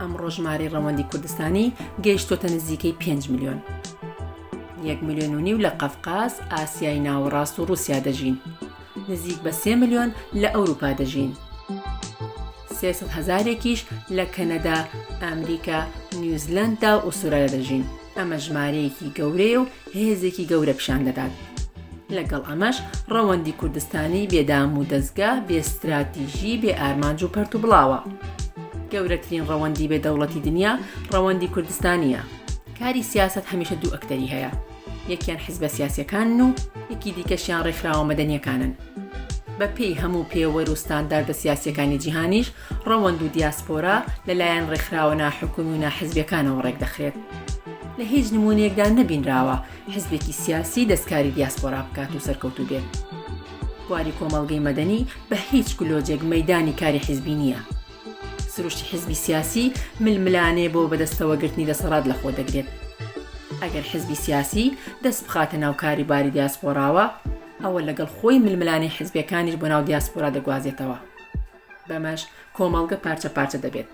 ئەمڕۆ ژمارەی ڕەوەندی کوردستانی گەیشتۆتە نزیکەی 5 میلیۆن یەک میلیۆن و نیو لە قەفقاز ئاسیای ناوەڕاست و رووسیا دەژین نزیک بە سێ میلیۆن لە ئەوروپا دەژین سێسەد هەزارێکیش لە کەنەدا ئەمریکا نیوزلنددا و ئوسترالیا دەژین ئەمە ژمارەیەکی گەورەیە و هێزێکی گەورە پیشان دەدات. لەگەڵ ئەمەش ڕەوەندی کوردستانی بێ دام و دەزگا، بێ ستراتیژی، بێ ئارمانج و پەرت و بڵاوە. گەورەترین ڕەوەندی بێ دەوڵەتی دنیا ڕەوەندی کوردستانییە. کاری سیاسەت هەمیشە دوو ئەکتەری هەیە، یەکیان حزبە سیاسییەکانن و یەکی دیکەشیان ڕێکخراوە مەدەنییەکانن. بەپێی هەموو پێوەر و ستانداردە سیاسییەکانی جیهانیش ڕەوەند و دیاسپۆرا لە لایەن ڕێکخراوە ناحکومی و ناحزبیەکانەوە ڕێک دەخرێت. لە هیچ نمونەیەکدا نەبینراوە حزبێکی سیاسی دەستکاری دیاسپۆرا بکات و سەرکەوتوو بێت. بواری کۆمەڵگەی مەدەنی بە هیچ گلۆجێک مەیدانی کاری حزبی نییە. سروشتی حزبی سیاسی ململانێ بۆ بەدەستەوە گرتنی دەسەڵات لە خۆ دەگرێت. ئەگەر حزبی سیاسی دەست بخاتە ناو کاری باری دیاسپۆراوە، ئەوە لەگەڵ خۆی ململانێ حزبیەکانیش بۆ ناو دیاسپۆرا دەگوازێتەوە. بەمەش کۆمەڵگە پارچە پارچە دەبێت.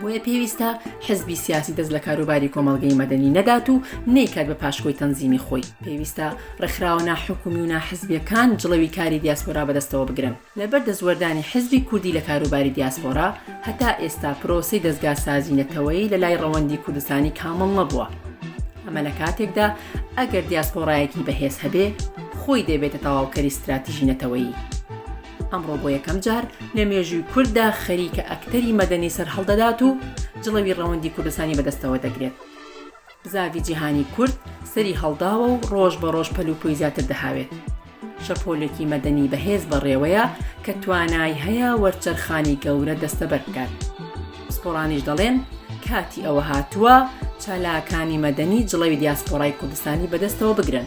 بۆیە پێویستە حزبی سیاسی دەست لە کاروباری کۆمەڵگەی مەدەنی نەدات و نەیکات بە پاشکۆی تەنزیمی خۆی پێویستە ڕێکخراوە ناحکومی و ناحزبیەکان جڵەوی کاری دیاسپۆرا بەدەستەوە بگرن لەبەر دەستوەردانی حزبی کوردی لە کاروباری دیاسپۆرا هەتا ئێستا پرۆسەی دەستگا سازی نەتەوەی لە لای ڕەوەندی کوردستانی کامڵ نەبووە ئەمە لە کاتێکدا ئەگەر دیاسپۆڕایەکی بەهێز هەبێ خۆی دەبێتە تەواوکەری ستراتیژی نەتەوەیی ئەمڕۆ بۆ یەکەم جار لە مێژووی کورددا خەریکە ئەکتەری مەدەنی سەرهەڵدەدات و جڵەوی ڕەوەندی کوردستانی بەدەستەوە دەگرێت. زاوی جیهانی کورد سەری هەڵداوە و ڕۆژ بە ڕۆژ پەلوپۆی زیاتر دەهاوێت. شەپۆلێکی مەدەنی بەهێز بەڕێوەیە کە توانای هەیە وەرچەرخانی گەورە دەستەبەر بکات. پسپۆڕانیش دەڵێن کاتی ئەوە هاتووە چالاکانی مەدەنی جڵەوی دیاسپۆرای کوردستانی بەدەستەوە بگرن.